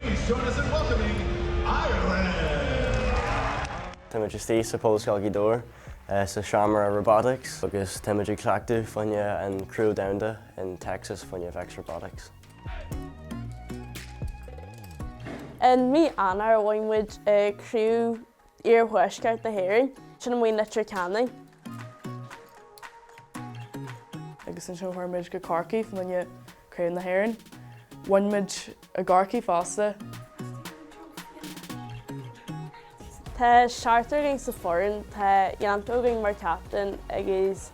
Please join us in welcoming Ireland! Táimid istigh sa Pobalscoil Ghaoth Dobhair sa seomra Robotics agus táimid ag cleachtadh fá choinne an Craobh Domhanda in Texas fá choinne Vex Robotics. In mí Eanáir bhain muid Craobh iarthuaisceart na hÉireann. Sin a bhí in Leitir Ceanainn. agus ansin chuaigh muid go Corcaigh fá choinne craobh na hÉireann. Bhain muid i gCorcaigh fosta. Tá seachtar againn sa fhoireann, tá Yanto againn mar captain agus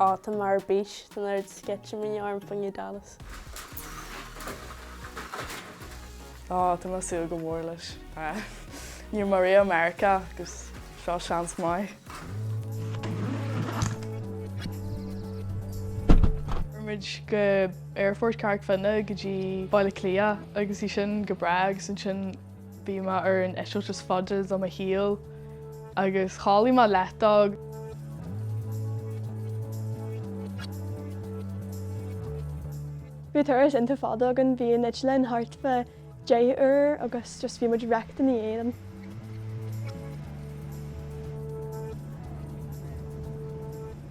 Á, tá mé ar bís, tá an oiread sceitimíní orm fá choinne Dallas. Á, tá mé ag súil go mór leis. Ní raibh mé ariamh i Meiriceá agus seo seans maith. Chuaigh muid go Aerfort Carraig Fhinne go dtí Baile Átha Cliath agus bhí sin go breá agus ansin Bhí mé ar an eitilt is faide de mo shaol agus chodlaigh mé leath dó. Bhí turas iontach fada againn, bhí an eitleán thart fá deich uair agus just bhí muid wrecked ina dhiaidh liom.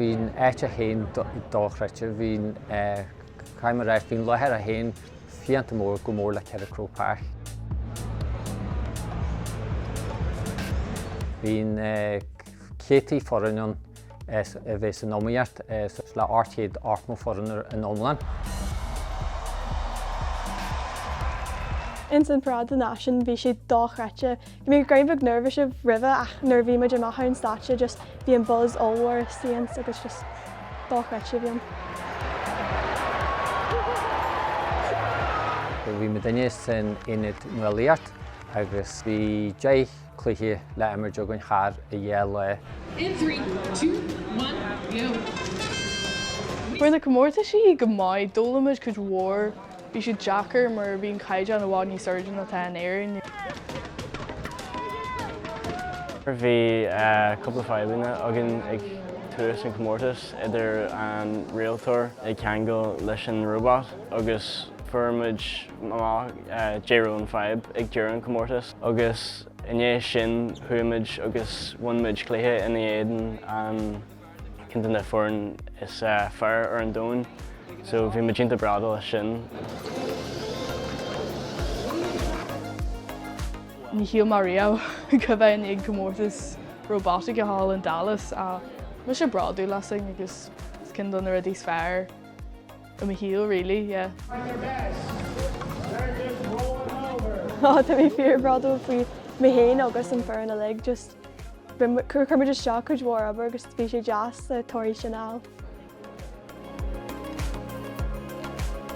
Bhí an áit é féin dochreidte, bhí tá mé ag ráit bhí an láthair é féin fiánta mór chomh mór le 4 Croke Park. Bhí na céadtaí foireann ann as a bheith san iomaíocht suas le ocht gcéad ochtó foireann ar an iomlán. Ins an Paráid na Náisiún, bhí sé dochreidte Bhí muid rud beag neirbhíseach roimhe ach nuair a bhí muid amach ar an stáitse just bhí an buzz ollmhór seo ann agus just dochreidte a bhí ann. Bhí muidinne san ionad nuálaíocht agus bhí deich cluiche le imirt againn thar dhá lá. In three, two, one, go! Chuaigh na comórtaisí go maith, d'fhoghlaim muid cuid mhór. Bhí siad deacair mar bhí an caighdeán i bhfad níos airde ná atá in Éirinn. Bhí cúpla fadhbanna againn ag tús an chomórtais idir an rialtóir ag ceangal leis an róbat agus fuair muid amach cá raibh an fadhb ag deireadh an chomórtais agus i ndiaidh sin chuaigh muid agus bhain muid cluiche ina éadan an Ceann de na foireann is fearr ar an domhan so bhí muid iontach bródúil as sin. Ní shíl mé riamh go mbeinn ag comórtas róbataice thall in Dallas ach bhí sé bródúil as sin agus ceann de na rudaí is fearr i mo shaol really, yeah. Tá mé fíor bródúil faoi mé féin agus an fhoireann uilig just Chuir muid isteach cuid mhór obair agus bhí sé deas le torthaí sin a fháil.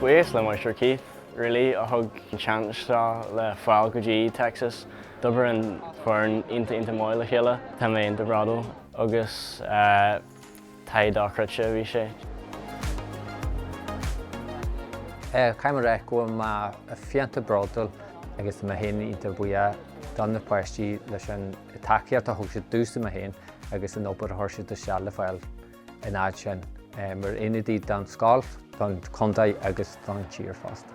Buíochas le Máistir Keith Reilly a thug an seans seo le fáil go dtí Texas. D'obair an foireann iontach iontach maith le chéile. Tá mé iontach bródúil agus Taithí dochreidte a bhí sé. Caithfidh mé a rá go bhfuil mé iontach bródúil agus tá mé féin iontach buíoch do na páistí leis an tacaíocht a thug siad domhsa, mé féin, agus an obair a chuir siad isteach le fáil an fhad sin, mar ionadaí don scoil, don chontae agus don tír fosta.